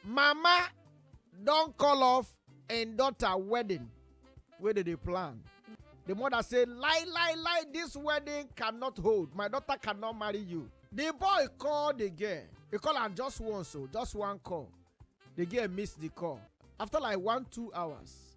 mama don call off im daughter wedding wey dem dey plan the mother say lie lie lie this wedding cannot hold my daughter cannot marry you the boy call the girl he call am just once o just one call the girl miss the call after like one two hours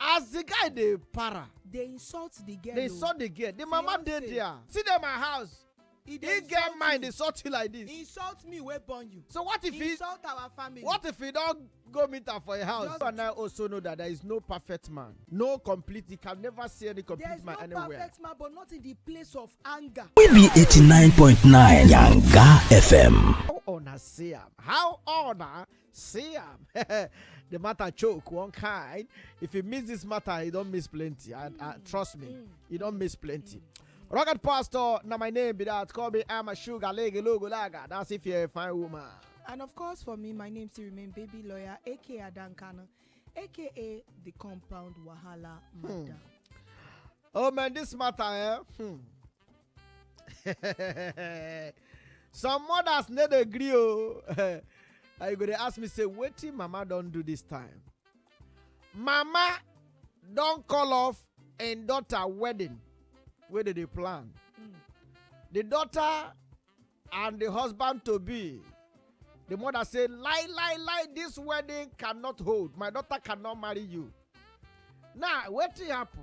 as the guy dey para dey insult the girl dey o. insult the girl the mama dey Fiance. there see dey my house e he dey get insult mind me insult you like this insult me wey born you so what if he insult our family what if he don go meet am for your house Just- you and i also know that there is no perfect man no complete you can never see any there complete is no man anywhere perfect man but not in the place of anger We be 89.9 Yanga FM. how una see am how una See am, the matter choke one kind. If you miss this matter, you don't miss plenty. I, I, trust me, you don't miss plenty. Rocket Pastor, now my name be that. Call me I'm a sugar lege logo laga. That's if you're a fine woman. And of course, for me, my name still remain Baby Lawyer, aka Adankana, aka the Compound Wahala Mada. Hmm. Oh man, this matter, eh? Hmm. some mothers no dey gree o and you go dey ask me say wetin mama don do this time mama don call off im daughter wedding wey dey dey plan the daughter and the husband to be the mother say lie lie lie this wedding cannot hold my daughter cannot marry you now wetin happen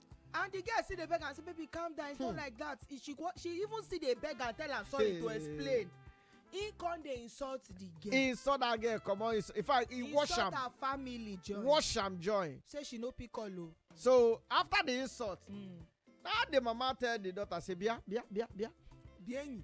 and the girl still dey beg am say baby calm down it's hmm. not like that she she even still dey beg am tell am sorry hey. to explain he come dey insult the girl. he insult that girl comot insult in fact he wash am insult her family join wash am join. say she no pick call o. so after the insult. Mm. na the mama tell the daughter say bia bia bia bia. bienyi.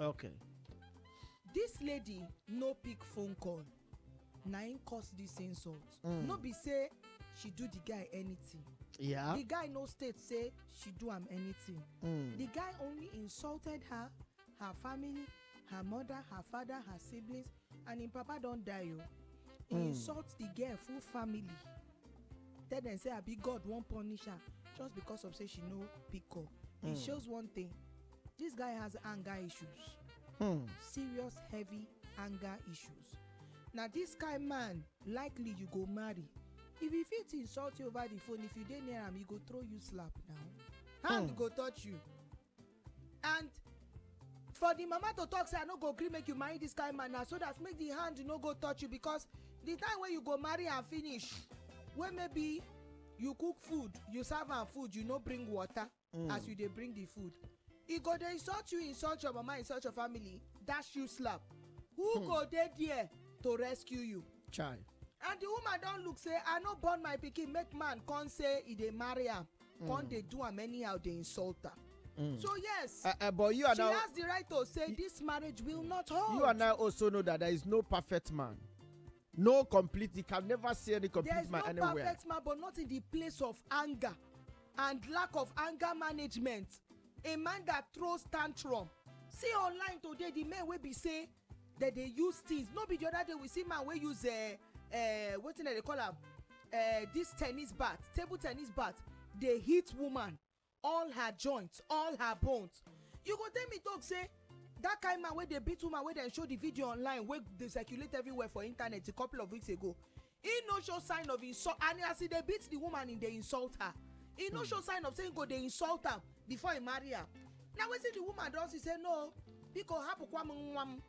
okay This lady no pick phone call na im cause this insult Mm. no be say she do the guy anything yeah the guy no state say she do am anything mm. the guy only insulted her her family her mother her father her siblings and im papa don die o he Mm. insult the girl full family tell dem say abi god wan punish her just because of say she no pick up e Mm. shows one thing This guy has anger issues. Hmm. Serious heavy anger issues. Na this kind man likely you go marry. If he fit insult you over the phone, if you dey near am, he go throw you slap now. Hand go touch you. And for the mama to talk say i no go gree make you marry this kind man na so that make the hand no go touch you because the time wey you go marry am finish wey maybe you cook food you serve am food you no bring water mm. as you dey bring the food e go dey insult you insult your mama insult your family dash you slap who hmm. go dey there to rescue you chai and the woman don look say i no born my pikin make man come say e dey marry am hmm. come dey do am anyhow dey insult am Mm. So yes, uh, uh, but you are she now, has the right to say this marriage will not hold. You and I also know that there is no perfect man. No complete. You can never see any complete There's man no anywhere. perfect man, but not in the place of anger and lack of anger management. A man that throws tantrum. See online today the men wey be say dem dey use things. No be the other day we see man wey use uh, uh, wetin dem dey call am uh, this tennis bat, table tennis bat dey hit woman. all her joints all her bones you go tell me talk say that kind man wey dey beat woman wey dem show the video online wey dey circulate everywhere for internet a couple of weeks ago he no show sign of insult and as he dey beat the woman he dey insult her he no show sign of say he go dey insult am before he marry am na wetin the woman don see say no biko hapụkwa m nwa m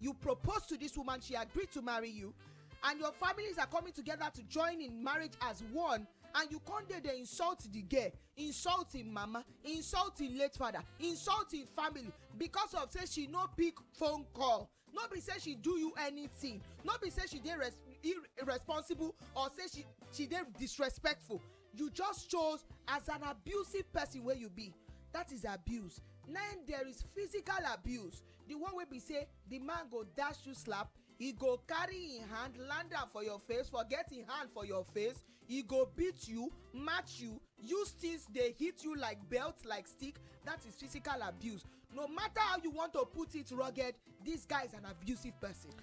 you propose to this woman she agreed to marry you and your families are coming together to join in marriage as one and you come dey dey insult the girl insult im mama insult im late father insult im family because of say she no pick phone call no be say she do you anything no be say she dey res irresponsible or say she she dey disrespectful you just chose as an abusive person wey you be that is abuse now there is physical abuse the one wey be say the man go dash you slap he go carry him hand land am for your face forget him hand for your face he go beat you match you use things dey hit you like belt like stick that is physical abuse no matter how you want to put it rugged this guy is an abusive person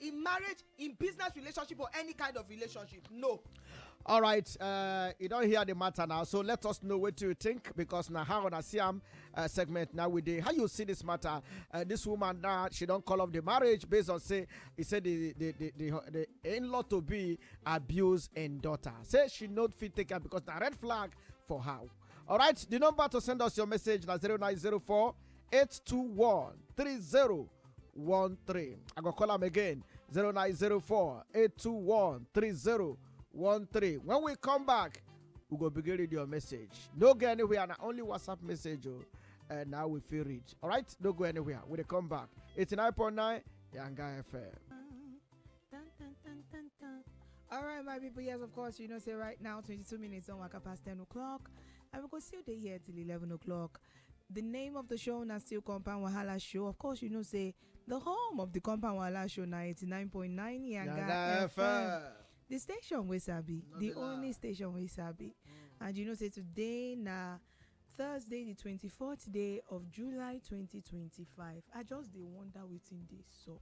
in marriage in business relationship or any kind of relationship no all right uh, you don't hear the matter now so let us know what you think because now how on a siam uh, segment now we do how you see this matter uh, this woman now she don't call off the marriage based on say he said the the the, the, the in-law to be abuse and daughter say she not fit take her because the red flag for how all right the number to send us your message now 0904 821 30 3013. I go call am again 0904 821 3013. When we come back, we go begin read your message. No go anywhere, na only WhatsApp message. Oh, and now we feel read. All right, no go anywhere. We come back. 89.9 Yanga FM. All right, my people. Yes, of course. You know, say right now, 22 minutes on Waka past 10 o'clock. And we go see you here till 11 o'clock. The name of the show na still Compound Wahala Show. Of course, you know, say the home of the Compound Wahala Show na 89.9 Yanga FM. The station we sabi, No the be only lie. station we sabi. And you know, say today na Thursday, the 24th day of July 2025. I just dey wonder wetin dey sup.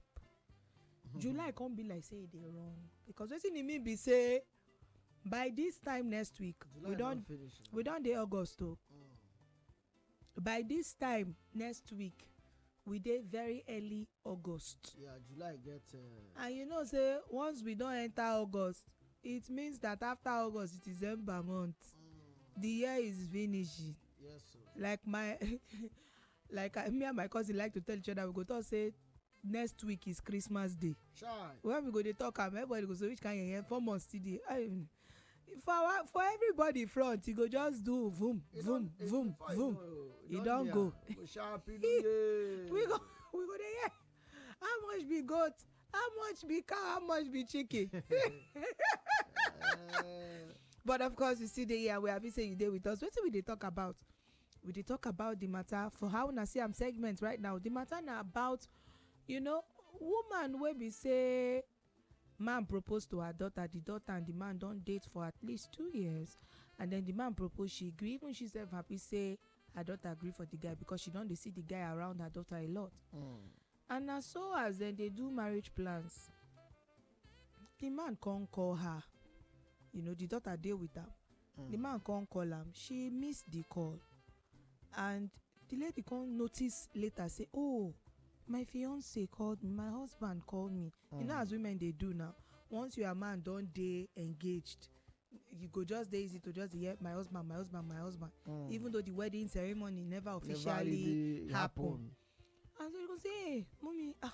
July come be like say e dey run because wetin e mean be say by this time next week we don we don dey august o mm. by this time next week we dey very early august yeah july get uh, and you know say once we don enter august it means that after august it is december month mm. the year is finishing yes sir. like my like I, me and my cousin like to tell each other we go talk say next week is christmas day Chai. when we go dey talk am everybody go say which kind yeye four months still dey I- for our for everybody front e go just do vum E vum don- e- vum before you vum know, e don near. go Go sharp in the we go we go dey hear how much be goat how much be cow how much be chicken Eh, but of course you still dey here we happy say you dey with us wetin we dey talk about we dey talk about the matter for how una see am segment right now the matter na about you know woman wey be say man propose to her daughter the daughter and the man don date for at least two years and then the man propose she gree even she sef happy say her daughter gree for the guy because she don dey see the guy around her daughter a lot and na so as dem dey do marriage plans the man come call her you know the daughter dey with am The man come call am, she miss the call and the lady come notice later say oh my fiance called me, my husband called me. Mm. You know as women dey do now, once your man don dey engaged, you go just dey easy to just dey hear my husband, my husband, my husband. Mm. Even though the wedding ceremony never officially never really happen. happen. And so you go say, hey, mommy, ah,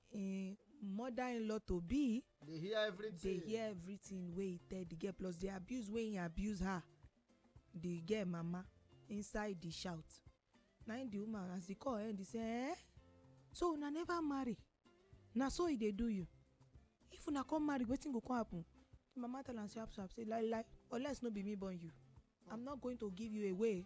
im mother-in-law to be dey hear dey everything hear everything wey he tell the girl plus the abuse wey he abuse her the girl mama inside the shout na him the woman as the call end he say eh so una never marry na so e dey do you if una come marry wetin go come happen the mama tell am sharp sharp say lai lai unless no be me born you i'm not going to give you away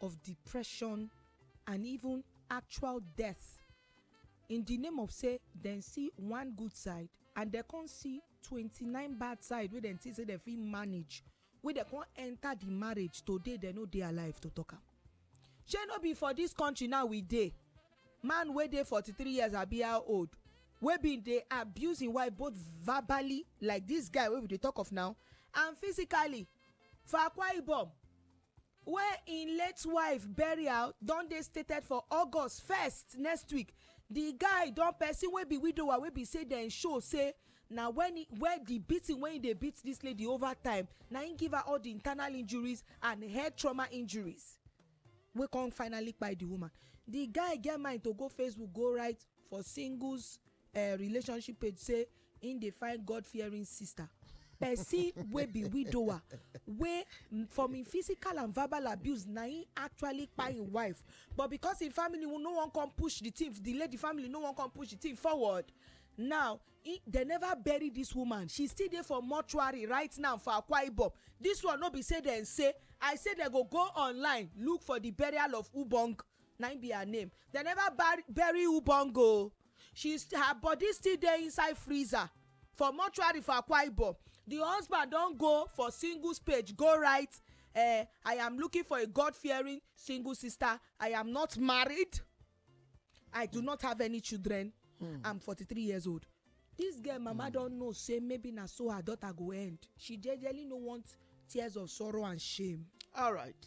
of depression and even actual death in di name of say dem see one good side and dem come see 29 bad side wey dem think say dem fit manage wey dem come enter di marriage today dem no dey alive to talk am shey no be for dis country now we dey man wey dey 43 years abi how old wey bin dey abuse im wife both verbally like dis guy wey we dey talk of now and physically for akwa ibom wey im late wife burial don dey stated for august first next week di guy don person wey be widower wey be say dem show say na when he where the beating wey he dey beat this lady over time na him give her all the internal injuries and head trauma injuries wey come finally kpai the woman the guy get mind to go facebook go write for singles eh, relationship page say im dey find god fearing sister person wey be widower wey from im physical and verbal abuse na im actually kpai im wife but because im family no wan come push the thing the lady family no wan come push the thing forward now he, they never bury this woman she still dey for mortuary right now for akwa ibom this one no be say dem say i say dem go go online look for the burial of ubong na im be her name dem never bur- bury ubongo o she st- her body still dey inside freezer for mortuary for akwa ibom the husband don go for singles page go write eh, i am looking for a god fearing single sister i am not married i do not have any children i'm forty-three years old this girl mama don know say maybe na so her daughter go end she jejely no want tears of sorrow and shame. all right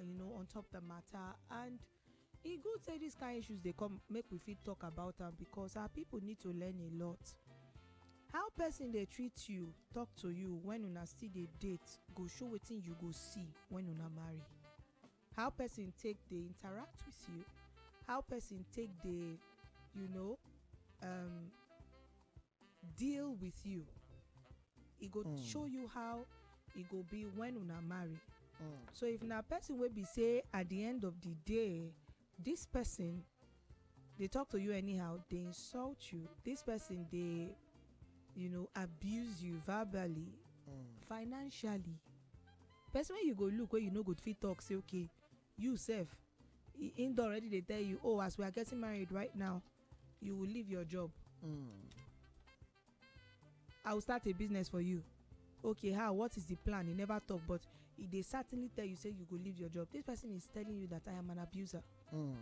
you know on top the matter and e good say dis kain issues dey come make we fit talk about am because our people need to learn a lot how person dey treat you talk to you when una still dey date go show wetin you go see when una marry how person take dey interact with you how person take dey you know um, deal with you e go mm. show you how e go be when una marry mm. so if na person wey be say at the end of the day this person dey talk to you anyhow dey insult you this person dey you know abuse you verbally mm. financially person wey you go look wey you no go fit talk say okay you sef him don already dey tell you oh as we are getting married right now you will leave your job mm. i will start a business for you okay how what is the plan he never talk but he dey certainly tell you say you go leave your job this person is telling you that i am an abuser mm.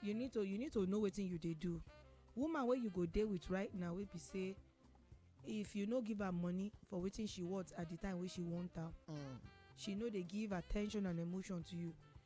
you need to you need to know wetin you dey do woman wey you go dey with right now wey be say if you no give her money for wetin she want at the time wey she want am mm. she no dey give attention and emotion to you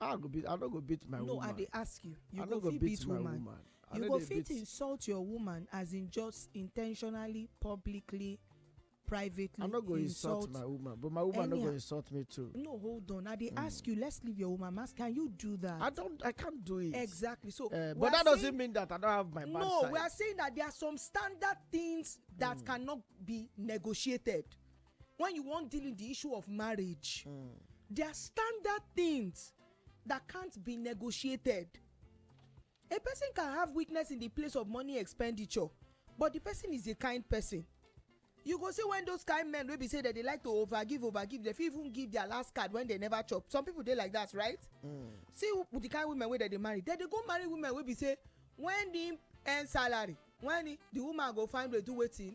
i go beat i no go beat my woman no i dey ask you you go fit beat woman you go fit insult your woman as in just intentionally publicly privately i no go insult my woman but my woman no go insult me too no hold on i dey hmm. ask you let's leave your woman mask can you do that i don't i can't do it exactly so eh, but that doesn't mean that i don't have my bad no we are saying that there are some standard things that hmm. cannot be negotiated when you wan deal with the issue of marriage mm. there are standard things that can't be negotiated a person can have weakness in the place of money expenditure but the person is a kind person you go see when those kind men wey be say that they like to overgive overgive they fit even give their last card when they never chop some people dey like that right. Mm. see the kind women wey dem dey marry dem dey go marry women wey be say when the earn salary when the, the woman go find way do wetin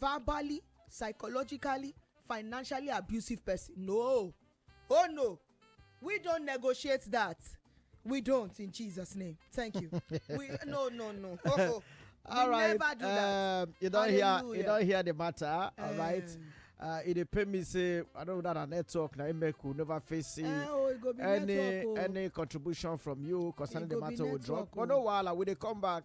verbally psychologically financially abusive person no oh no we don't negotiate that we don't in jesus name thank you we no no no oh, oh. all we right never do that. Um, you don't Hallelujah. hear you don't hear the matter uh, all right eh. uh, it dey pain me say i don't know that network na make we never face uh, oh, any network, oh. any contribution from you concerning the matter we drop but no wahala we dey come back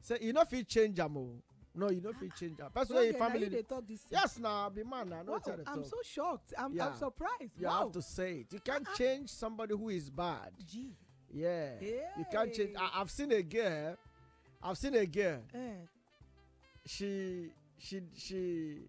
say e no fit change am o oh. no you no fit change am person wey im family dey talk this thing yes na be man na no tell the talk i'm so shocked i'm yeah. i'm surprised you wow. have to say it you can't uh -uh. change somebody who is bad Gee. yeah hey. you can't change I, i've seen a girl i've seen a girl eh. she she she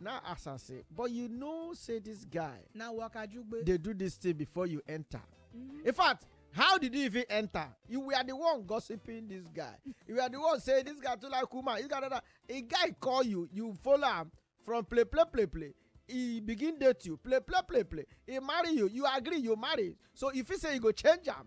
now as i say but you know say this guy na wakajugbe dey do this thing before you enter mm-hmm. in fact how did you even enter you were the one gossiping this guy you were the one say this guy too like woman this guy that a guy call you you follow am from play play play play he begin date you play play play play he marry you you agree you marry so if he say you go change am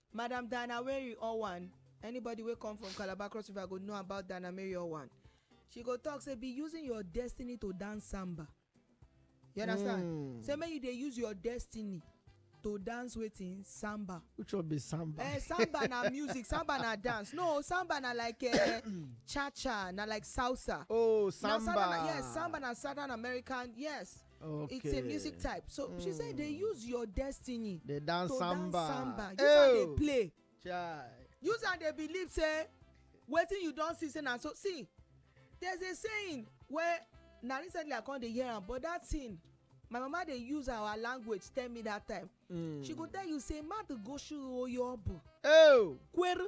Madam Diana Weri Owan Anybody wey come from Calabar Cross River go know about Diana Mary Owan. She go talk say be using your destiny to dance samba. You understand? Mm. Say make you dey use your destiny to dance wetin samba. Which one be samba? Eh, samba na music, samba na dance. No, samba na like eh, cha cha, na like salsa. Oh, samba. Na, yes, samba na Southern American. Yes. Okay. It's a music type. So mm. she said they hmm. use your destiny. They dance to samba. Dance samba. Use oh. and they play. Chai. Use and they believe say wetin you don see say na so see there's a saying where na recently i come dey hear am but that thing my mama dey use our language tell me that time. Mm. she go tell you say madu go shuru oyo obu. Oh. kweru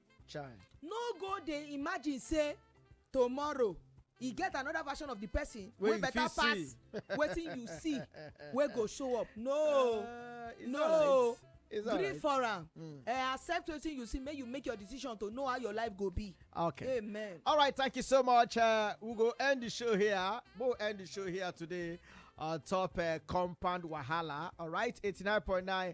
child no go dey imagine say tomorrow e get another version of the person wey better pass wetin you see wey go show up no uh, no gree for am hmm. eh, accept wetin you see make you make your decision to know how your life go be okay amen all right thank you so much uh, we go end the show here we'll end the show here today on top uh, compound wahala all right 89.9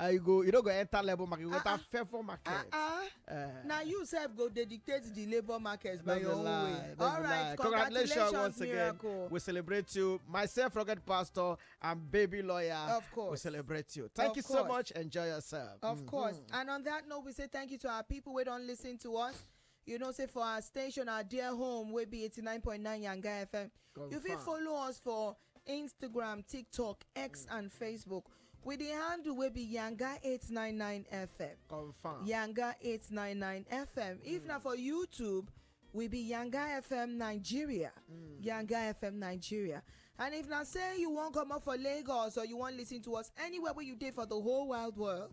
Uh, you go you no go enter labour market you go enter favour market. Uh, uh, na you sef go dey dictate the labour market by your own way. all right congratulations once again we celebrate you myself rugged pastor and baby lawyer. of course we celebrate you thank you so much enjoy yourself. of mm-hmm. course and on that note we say thank you to our people wey don lis ten to us. You know say for our station, our dear home, we be 89.9 Yanga FM. Confirm. You fit follow us for Instagram, TikTok, X, mm. and Facebook. With the handle we be Yanga 899 FM. Confirm. Yanga 899 FM. Mm. If not for YouTube, we be Yanga FM Nigeria. Mm. Yanga FM Nigeria. And if not say you won't come up for Lagos or you won't listen to us anywhere where you did for the whole wild world,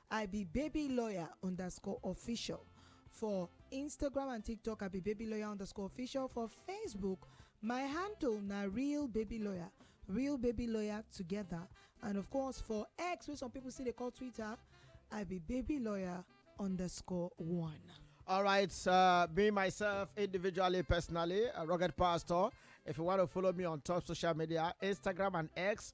I be baby lawyer underscore official for Instagram and TikTok. I be baby lawyer underscore official for Facebook. My handle na real baby lawyer, real baby lawyer together. And of course for X, where some people see they call Twitter, I be baby lawyer underscore one. All right, uh, me myself individually, personally, a rugged pastor. If you want to follow me on top social media, Instagram and X,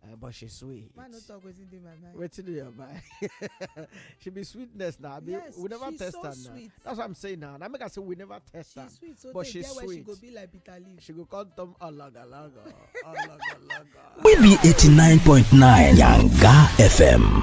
Uh, but she sweet. Man, no talk wetin dey my mind. Wetin dey your mind? she be sweetness now. Be, yes, we never test so her sweet. now. That's what I'm saying now. Now make I say we never test she her. Sweet, so but she sweet. Where she go be like bitter leaf. She go call them alaga alaga alaga alaga. We be eighty nine point nine Yanga FM.